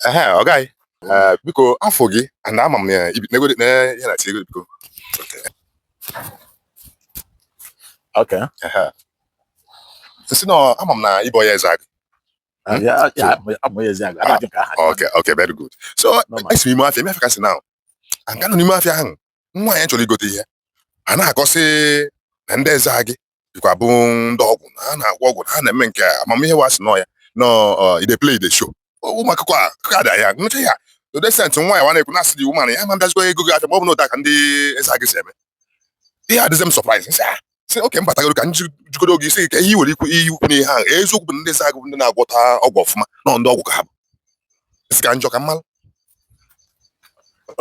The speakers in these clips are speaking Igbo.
ehe ọ gaghị ee biko afọ gị na ama m ya ibi nego na ihe na tigo biko Okay. ehe m sị na ama m na ịbụ onye Ezeagụ Ah, ya ya amụ ya Ezeagụ anaghị m ka aha okay okay very good so Normal. esi m ime afịa ime afịa ka m si na aga nọ n'ime afịa ahụ nwa anyị chọrọ ịghọta ihe a na-akọ sị na ndị Ezeagụ dịkwa bụ ndị ọgwụ na ha na-agwọ ọgwụ na ha na-eme nke a amamihe wa sị nọ ya nọ ide play the show ụmụ akụkọ a akụkọ ada ya nụcha ya ọ decent nwanyị wa na-ekwu na-asị the woman ya ma mbịazikwa ego gị acha ma ọ bụ na otu a ka ndị Ezeagụ si eme ihe adịzị m surprise m sị a sị okay m batagoro ka nji jikọrọ oge isi ka ihe nwere ikwu ihe ukwu n'ihe ahụ eziokwu bụ Ezeagụ ndị na-agwọta ọgwụ ọfụma na ndị ọgwụ ka ha bụ m sị ka m jụọ ka m malụ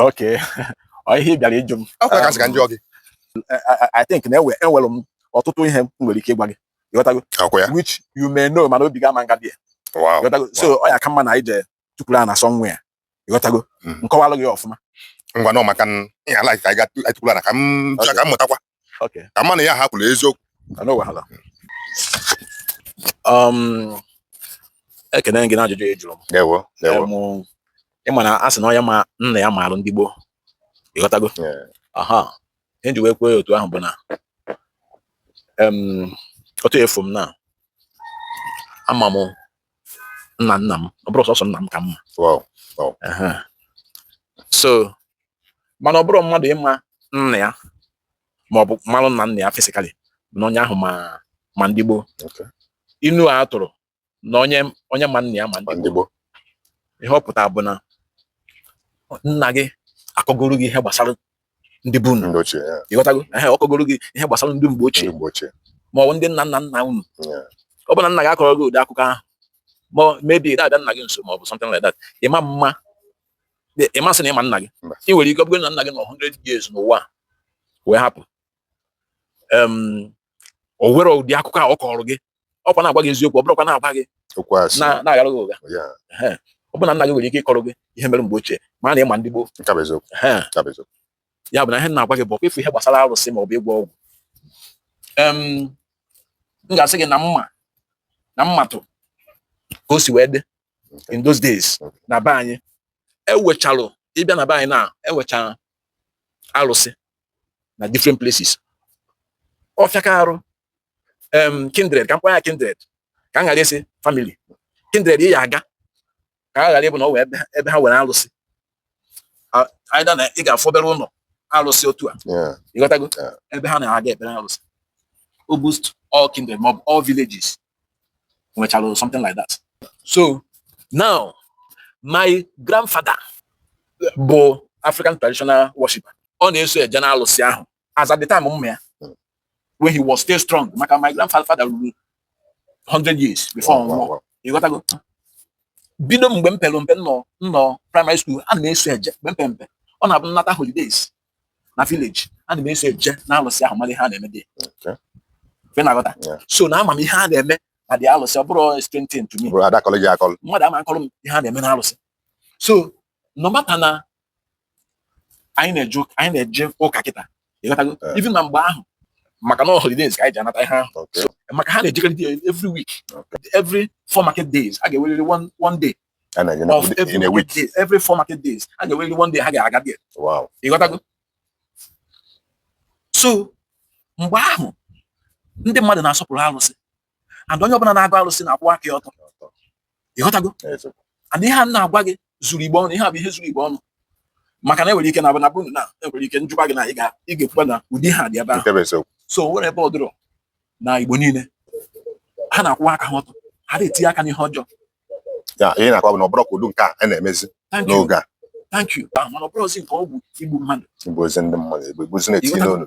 okay ihe ị bịara ịjụ m akwụkwọ ka sị ka m jụọ gị I think na enwe enwere m ọtụtụ ihe m nwere ike ịgwa gị ịghọtago akwụkwọ ya which you may know mana obi gị ama nga bịa ịghọtago so ọ ya ka mma na anyị jee tukwuru ana somewhere ịghọtago mm. m kọwalụ gị ọfụma ngwanụ maka ya ala ka i tukwulu ana ka m jụọ ka m mụtakwa ka m malụ ya ha kwulu eziokwu no wahala ekene m gị n'ajụjụ ị jụrụ m ịma na a sị na onye ma nna ya maalụ ndị gboo ịghọtago aha ihe m ji wee kwuo ya otu ahụ bụ na otu ị fụ m na ama m nna nna m ọ bụrọ sọsọ nna m ka m ma so mana ọ bụrọ mmadụ ịma nna ya ma ọ bụ marụ nna nna ya physically na onye ahụ ma ndị gboo inu a tụrụ na onye onye ma nna ya ma ndị gboo ihe ọ pụtara bụ na nna gị akọgoro gị ihe gbasara ndị be unu ịghọtago ehe ọ kọgoro gị ihe gbasara ndị mgbe ochie ma ọ bụ ndị nna nna nna unu ọ bụ na nna gị akọrọ gị ụdị akụkọ ahụ ma maybe ị da abịa nna gị nso ma ọ bụ something like that ịma mma ịma sị na ịma nna gị ị nwere ike ọ bụrụ na nna gị nọ 100 years n'ụwa wee hapụ o nwere ụdị akụkọ a ọ kọrọ gị ọkwa na-agwa gị eziokwu ọ bụrọkwa na-agwa gị na-aghara gị ụgha ọ bụ na nna gị nwere ike ịkọrọ gị ihe mere mgbe ochie ma na ịma ndị gboo ya bụ na ihe m na-agwa gị bụ ọkwa ife ihe gbasara arụsị ma ọ bụ ịgwọ ọgwụ m ga-asị gị na m ma na m matụ ka o si wee dị in those days na be anyị e nwechalụ ị bịa na be anyị na e nwechara alụsị na different places ọ fịaka arụ em kindred ka m kpọọ ya kindred ka m ghara ịsị family kindred ị ya aga ka a ghara ịbụ na o nwee ebe ha nwere alụsị either na ị ga-afụ obere ụlọ alụsị otu a ịghọtago ebe ha na-aga ekpere alụsị almost all kindred, all villages, nwechara something like that so now my grandfather bụ African traditional worshiper ọ na-eso eje na alụsị ahụ as at the time m ma ya when he was still strong maka my grandfather ruru 100 years before ọ nwụọ ịghọtago bido mgbe m pere mpe nọ na primary school a na-eso eje mgbe mpe mpe ọ na-abụ m nata holidays na village ana m eso eje na alụsị ahụ mara ihe a na-eme there ị na-aghọta so na ama m ihe a na-eme na ụdị alụsị ọ bụrọ strange thing to me mmadụ ama akọrọ m ihe a na-eme na alụsị so no matter na anyị na-eje anyị na-eje ụka kịta ịghọtago eh. even na mgbe ahụ maka na holidays ka anyị ji anata ihe ahụ maka ha na-ejekarị every week every four market days a ga-enwerịrị one day a na-enye na of every in a week market day every four market days a ga-enwerịrị one day ha ga-aga there wow ịghọtago so mgbe ahụ ndị mmadụ na-asọpụrụ arụsị and onye ọbụla na-agọ arụsị na-akwụ aka ya ọtọ ịghọtago eziokwu and ihe a m na-agwa gị zuru Igbo ọnụ ihe a bụ ihe zuru Igbo ọnụ maka na enwere ike na abụ na bụ na enwere ike m jụba gị na ị ga- ị ga-ekwukwa na ụdị ha dị ebe ahụ nke bụ eziokwu so o nwerọ ebe ọ dịrọ na Igbo niile ha na-akwụwa aka ha ọtọ ha adị etinye aka n'ihe ọjọọ ya ihe m na-akọwa bụ na ọ bụrọ ka ụdị nke a a na-emezi n'oge a igbuzi ndị mmadụ egbu egbuzi na-etinye n'olu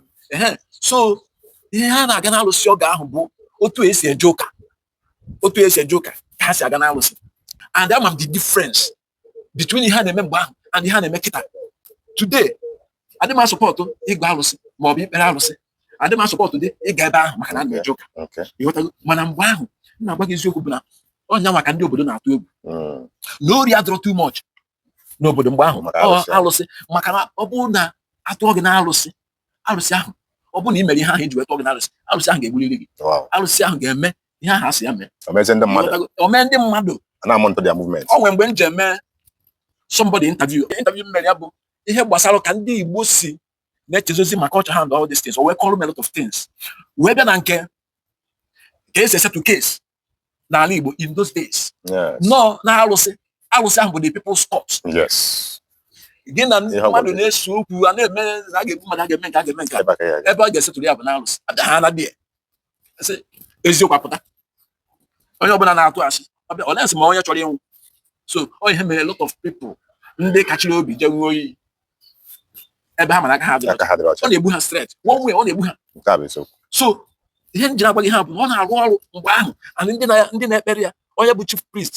so ihe ha na-aga n'alụsị oge ahụ bụ otu esi eje ụka otu esi eje ụka ka ha si aga n'alụsị and ama m the difference between ihe a na-eme mgbe ahụ and ihe a na-eme kịta today adị m asupport ịgọ alụsị ma ọ bụ ikpere alụsị adị m asupport dị ịga ebe ahụ maka na ana m eje ụka ịghọtago mana mgbe ahụ m na-agwa gị eziokwu bụ na ọnya maka ndị obodo na-atụ egwu hmm. na ori adịrọ too much n'obodo mgbe ahụ alụsị maka na ọ bụrụ na atụọ gị na alụsị alụsị ahụ ọ bụrụ na ị mere ihe ahụ eji wee tụọ gị na alụsị alụsị ahụ ga-egburiri gị alụsị ahụ ga-eme ihe ahụ asị ya mee omee ndị mmadụ o nwere mgbe m ji eme somebody interview interview m mere ya bụ ihe gbasara ka ndị Igbo si na-echezozi maka culture ha and all these things o wee kọrọ m a lot of things wee bịa na nke ka esi esettle case n'ala Igbo in those days na ọ na arụsị arụsị ahụ bụ the people's court gị na mmadụ na-ese okwu a na-eme a ga-ebu mmadụ a ga-eme nke a ga-eme nke ebe a ga-esettle ya bụ na arụsị ha na bie sị eziokwu apụta onye ọbụla na-atụ asị ọbịa unless ma onye chọrọ ịnwụ so ọ ihe mere lot of people ndị kachiri obi je ṅụọ iyi ebe ha mara aka ha dị ọ na-egbu ha straight one way ọ na-egbu ha so ihe m jiri agwa gị ihe a bụ na ọ na-arụ ọrụ mgbe ahụ and ndị na-ekpere ya onye bụ chief priest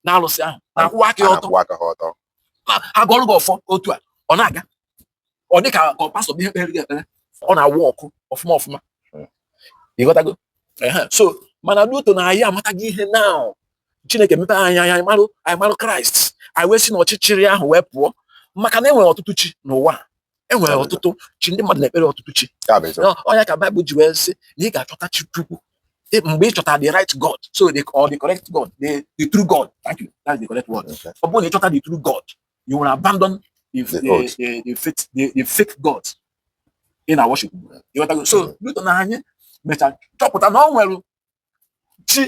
na alụsị ahụ na-akwụwa aka ọtọ a gọọrọ gị ọfọ otu a ọ na-aga ọ dị ka ka pastọ bụ ihe kpere gị ekpere ọ na-awụ ọkụ ọfụma ọfụma ịghọtago so mana due to na anyị amataghị ihe na chineke mepe anyị anya anyị marụ anyị marụ kraịst anyị wee si na ọchịchịrị ahụ wee pụọ maka na enwere ọtụtụ chi n'ụwa enwere ọtụtụ chi ndị mmadụ na-ekpere ọtụtụ chi ọ nya ka baịbụl ji wee sị na ị ga-achọta chi chukwu mgbe ị chọtara the right God so the, or the correct God the, the true God thank you that's the correct word ọ bụrụ na ị chọta the true God You will abandon the, the, the, the, the, fake, the, the fake God ị na-worship. So, due to na anyị mechara chọpụta na o nwere chi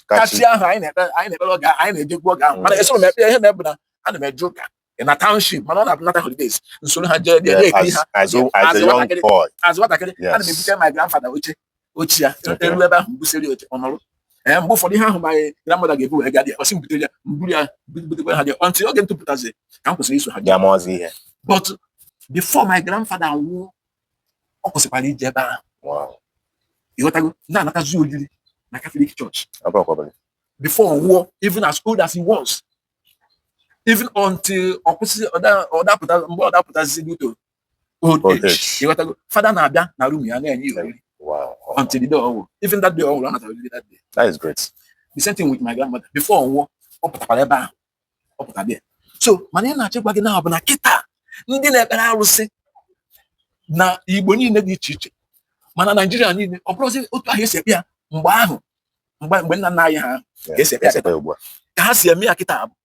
ka chi ahụ anyị na-ekpere oge anyị na-ejekwu oge ahụ mana esoro m ekpe ihe na-ebu na ana m eje ụka na township mana ọ na-abụ nata holidays m soro ha jee ekiri ha as nwatakịrị ana m ebute my grandfather oche oche ya e ru ebe ahụ m busiri oche ọ nọrọ ee mgbe ụfọdụ ihe ahụ my grandmother ga-ebu wee gadị ọ sị m butere ya m buru ya butekwa ha dị up until oge m topụtazi ka m kwụsịrị iso ha dị ama ọzọ ihe but before my grandfather nwụọ ọ kwụsịkwara ije ebe ahụ ịghọtago na-anatazi oriri na Catholic Church before ọ nwụọ even as old as he was even until ọ kwụsị ọ da-apụta mgbe ọ da-apụtazi due to old age ịghọtago fada na-abịa na room ya na-enye ya oriri until the day ọ nwụ even that day ọ nwụrụ ọ natara oriri that day that is great the same thing with my grandmother before ọ nwụọ ọ pụtakwara ebe ahụ ọ pụtara bịa so mana ihe m na-achọ ịgwa gị na ọ bụ na kịta ndị na-ekpere arụsị na igbo niile dị iche iche ma na naijiria niile ọ bụrọzi otu ahụ esi ekpe ya mgbe ahụ mgbe nna nna anyị ha ka esi ekpe ya ka ha si eme ya kịta abụ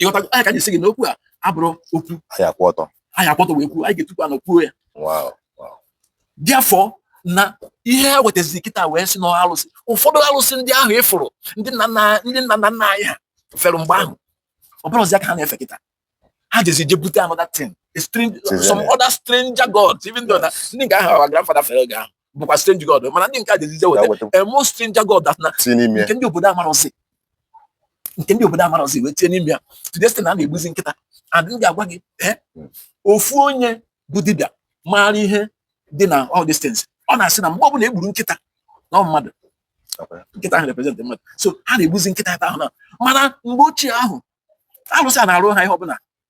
ịghọtago ọ nya ka anyị sị gị na okwu a abụrọ okwu anyị akwụ ọtọ anyị akwụ ọtọ wee kwuo anyị ga-etukwu ana kwuo ya bịa fụ na ihe ha wetaziri kịta wee sị na alụsị ụfọdụ alụsị ndị ahụ ịfụrụ e ndị nna nna nna anyị ha fere mgbe ahụ ọ bụrọzi ha ka ha na-efe kịta ha jezi je bute another thing some other stranger gods even though na ndị nke ahụ our grandfather fere oge ahụ bụkwa strange god mana ndị nke a jezi je weta a more stranger god that na nke ndị obodo amarọzi nke ndị obodo amarọzi wee tinye n'ime ya today sị na a na-egbuzi nkịta and m ga-agwa gị eh, hmm. ofu onye bụ dibịa maara ihe dị na all these things ọ na-asị na mgbe ọbụla egburu nkịta na mmadụ nkịta ahụ represent mmadụ so ha na-egbuzi nkịta ebe ahụ na mana mgbe ochie ahụ alụsị a na-arụ ha ihe ọbụla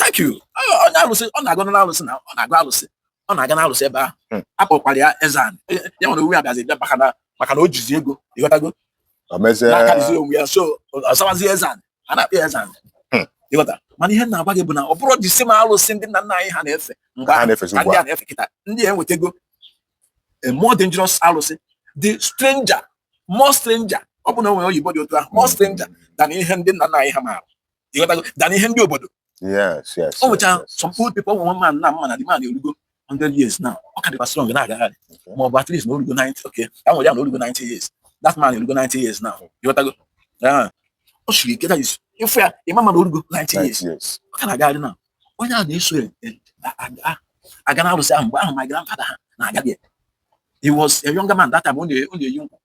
thank you onye alụsị ọ na-agọ n'alụsị na ọ na-agọ alụsị ọ na-aga n'alụsị ebe ahụ hmm. akpọkwara ya eze anyị ya onwe ya wee bịazi bịa maka na maka na o jizi ego ịghọtago na-akarịzi onwe ya so ọ zawazi eze anyị a na-akpọ ya eze anyị hmm. ịghọta mana ihe m na-agwa gị bụ na ọ bụrọ the same alụsị ndị nna nna anyị ha na-efe mgbe ha na-efe ndị a na-efe kịta ndị a enwetago a more dangerous alụsị the stranger more stranger ọ bụ na o nwee oyibo dị otu ahụ more hmm. stranger than ihe ndị nna nna anyị ha maara ịghọtago dana ihe ndị obodo o nwecha some old people nwe man a m ma na the man erugo 100 years now ọ ka dịkwa strong na-agagharị ma ọ bụ at least na orugo 90 okay ka m were ya na orugo 90 years that man erugo 90 years now ịghọtago ọ siri ike that is ịfụ ya ịma ma na orugo 90 years ọ ka na-agagharị na onye a na-eso aga na arụsị ahụ mgbe ahụ my grandfather ha na-aga there he was a younger man that time ọ na-eyi nkwụ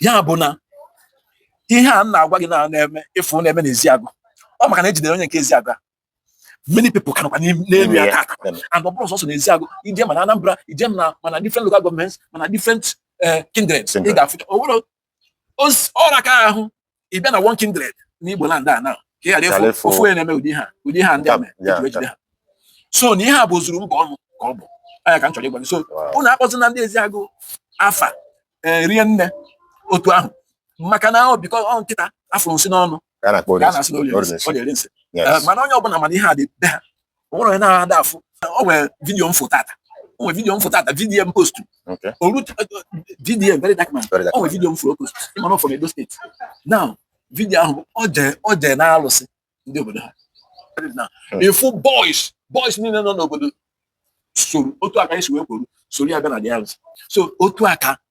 ya bụ na ihe a m na-agwa gị na na-eme ị fụ na-eme n'Eziagụ ọ maka na e jidere onye nke Eziagụ a many people ka nọkwa n'elu ya tata and ọ bụrọ sọsọ n'Eziagụ i jee ma na Anambra i jee ma na ma na different local governments ma na different eh, kindreds ị ga-afụ oracle ahụ ị bịa na one kindred n'Igbo land a na ka ị ghara Ghara efu ịfụ. ofu onye na-eme ụdị ihe a ụdị ihe a ndị a mere Ya, eji ejide ha so na ihe a bụ ozuru mba ọnụ ka ọ bụ nya ka m chọrọ ịgwa gị so Wow. unu akpọzina ndị Eziagụ afa eh, rinne otu ahụ maka na ọ because ọ nkịta a fụrụ nsị n'ọnụ Ka a na-akpọ ka a Orinsi. na-asị na ọ na-eri nsị, Orinsi. ọ na-eri nsị Yes. Eh, mana onye ọbụla ma na ihe a dị be ha o nwere onye na-ahụ ada afụ o nwere video m fụ tata o nwere video m fụ tata video m postu orute video very dark man o nwere video m fụrụ ọ postu ị ma na from Edo State now video ahụ ọ jee na alụsị ndị obodo ha ị fụ boys boys niile nọ n'obodo soro otu a ka anyị si wee kwuru soro ya bịa na the alụsị so otu a ka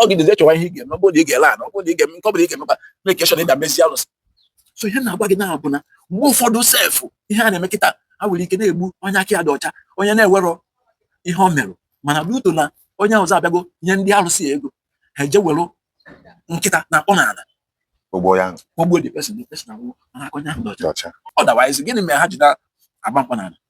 ọ gị dịzi chọwa ihe ị ga-eme ọ bụrụ na ị ga-ele ana ọ bụrụ na ị ga-eme nke ọ bụla ị ga-emekwa na-eke shọn ịda mezi alụsị so ihe m na-agwa gị na-abụ na mgbe ụfọdụ sef ihe a na-eme kịta ha nwere ike na-egbu onye aka ya dị ọcha onye na-enwerọ ihe o merụ mana due to na onye ọzọ abịago nye ndị alụsị ya ego ha eje were nkịta na-akpọ n'ala o gbuo ya o gbuo the person the person anwụ mana aka onye ahụ dị ọcha otherwise gịnị mere ha ji na-agba mkpọ n'ala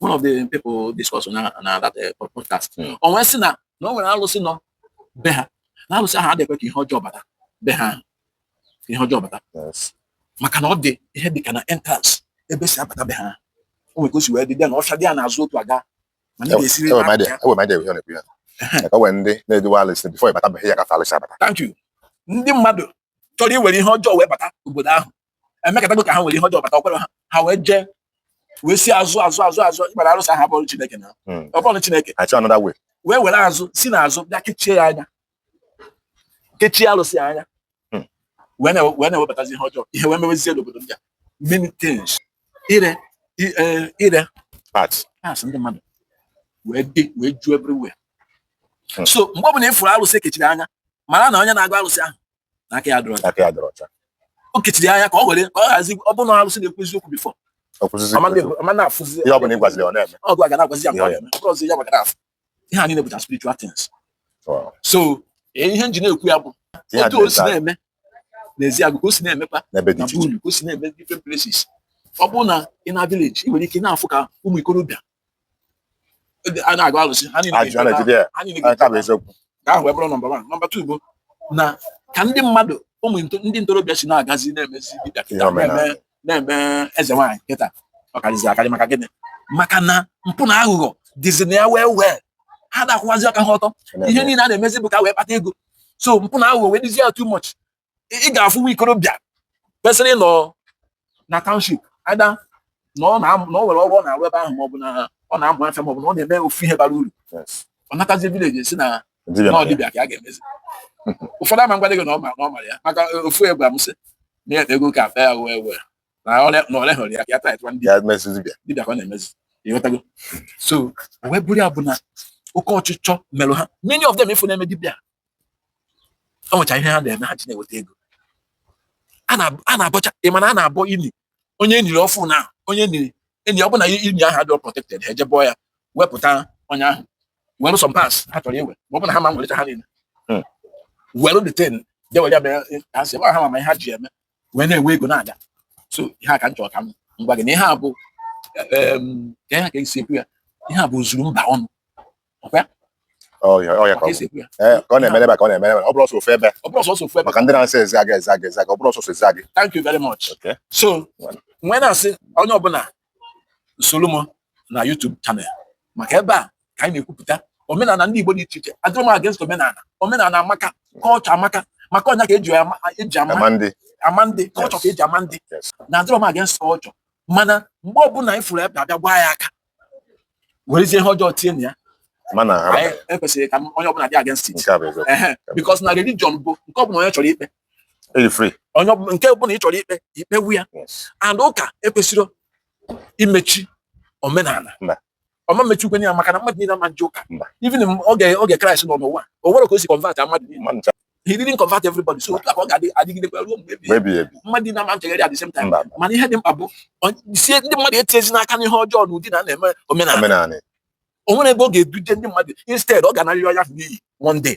one of the people discuss na na that eh, podcast hmm. o wee sị na na o nwere alụsị nọ be ha na alụsị ahụ adịghị ekwe ihe ọjọọ bata be ha ihe ọjọọ bata maka na ọ dị ihe dị ka na entrance ebe e si abata be ha o nwere ka o si wee dị dị na ọfịa dị ya n'azụ otu aga ma ndị ga-esiri ndị na-eduwe alụsị before ị bata be ya gafe alụsị abata thank you ndị mmadụ chọrọ iwere ihe ọjọọ wee bata obodo ahụ emekatago ka ha were ihe ọjọọ bata o kwerọ ha ha wee jee wee si azụ azụ azụ azụ ị mara arụsị ahụ abụrọ chineke now hmm. ọ bụrọ chineke wee were azụ si n'azụ bịa kechie ya anya kechie arụsị ya anya hmm. wee na-ewebatazi ihe ọjọọ ihe wee mewezie n'obodo ndị a many things ire e, ire parts ndị mmadụ wee dị wee ju everywhere hmm. so mgbe ọ bụla ị fụrụ arụsị e kechiri anya mara na onye na-agọ arụsị ahụ aka ya adịrọ aka ya adịrọ ọcha o kechiri anya ka ọ were ka ọ ghazi ọ bụrụ na arụsị na-ekwuzi eziokwu bifọ ọ ma na-afụzi ihe ọ bụla ịgwaziri ọ na-eme ọ gwa ga na-agwazi ya mgbe ọ na-eme ọzọ ya gbagara afụ ihe anyị na-ebuta spiritual things so e, ihe m ji na-ekwu ya bụ otu o si na-eme n'Ezeagụ ka o si na-emekwa na bulu ka o si na-eme different places ọ bụrụ na ị nọ na village ị nwere ike na-afụ ka ụmụ ikorobịa a na-agọ alụsị ha niile ajụ a ga-eje na-ejide ya ha niile nke a ga-eje bụ eziokwu ka ahụ wee bụrụ nọmba wan nọmba tu bụ na ka ndị mmadụ ụmụ nto- ndị ntorobịa si na-agazi na-emezi dibịa kịta Ihe omenala. na-eme na-eme eze nwaanyị kịta ọ karịzi akarị maka gịnị maka na mpụ na aghụghọ dịzi na ya wee wee ha ada akwụwazi aka ha ọtọ ihe niile a na-emezi bụ ka wee kpata ego so mpụ na aghụghọ wee dịzi ya too much ị ga-afụ nwa ikorobịa kwesịrị ịnọ na township either na ọ na ọ nwere ọrụ ọ na-arụ ebe ahụ maọbụ na ọ na-amụ afịa maọbụ na ọ na-eme ofu ihe bara uru ọ natazie vileji sị na na ọ dibịa ka ọ ga-emezi ụfọdụ ama ngwa gị na ọ ma na ọ mara ya maka ofu egwu amụsị na ya ego ka akpa ya wee wee na ole hụrụ ya ka ya taịtwa ndị dibịa ka ọ na-emezi ịghọtago so wee bụrụ ya bụ na oke ọchịchọ merụ ha many of them ị fụ na-eme dibịa o nwecha ihe ha na-eme ha ji na-eweta ego a na-abọcha ị ma na a na-abọ ini onye e niri ọfụụ na onye e niri eni ọ bụla ini ahụ adịrọ protected ha eje bọọ ya wepụta onye ahụ were some parts ha chọrọ iwe ma ọ bụ na ha ma nwere ha niile hmm. were the thing je were ya mere ha sọ ha ma ihe ha ji eme wee na-enwe ego na-aga so ihe a ka m chọrọ ka m gwa gị na ihe a bụ ka ihe ka e si ekwu ya ihe a bụ zuru mba ọnụ ọkwa ya ọ na-emere ka ọ na-emere ọ bụrọ sọsọ ofu ebe maka ndị na-asị Ezeagụ Ezeagụ Ezeagụ ọ bụrọ sọsọ Ezeagụ thank you very much so m wee na-asị onye ọbụla soro m na YouTube channel maka ebe a ka anyị na-ekwupụta omenala ndị Igbo dị iche iche adịrọ m against omenala omenala amaka kọlchọ amaka maka ọ nya ka e ji e ji ama ama ndị kọlchọ ka e ji ama ndị na adịrọ m against kọlchọ mana mgbe ọbụla anyị fụrụ ebe a bịa gwa ya aka werezie ihe ọjọọ tinye na ya mana e kwesịrị ka onye ọbụla dị against it because na religion bụ nke ọbụla onye chọrọ ikpe Ị dị free. onye ọbụla nke ọbụla ị chọrọ ikpe i kpewe ya Yes. and ụka ekwesịrọ imechi omenala Mba. ọ ma mmechinwukwanụ ya maka na mmadụ niile ama nje ụka Mba. even m- oge oge kraịst nọ n'ụwa o nwerọ ka o si convert a mmadụ niile Mmadụ ncha he didn't convert everybody so otu a ka ọ ga-adị adịgidekwa ruo mgbe ebighị ebi. ebighị ebi. mmadụ niile ama nchegharị at the same time Mba. mana ihe dị mkpa bụ ọ- sị ndị mmadụ etinyezina aka n'ihe ọjọọ na ụdị na a na-eme omenala Omenala. o nwerọ ebe ọ ga-eduje ndị mmadụ instead ọ ga-anarịrị onye ahụ n'iyi one day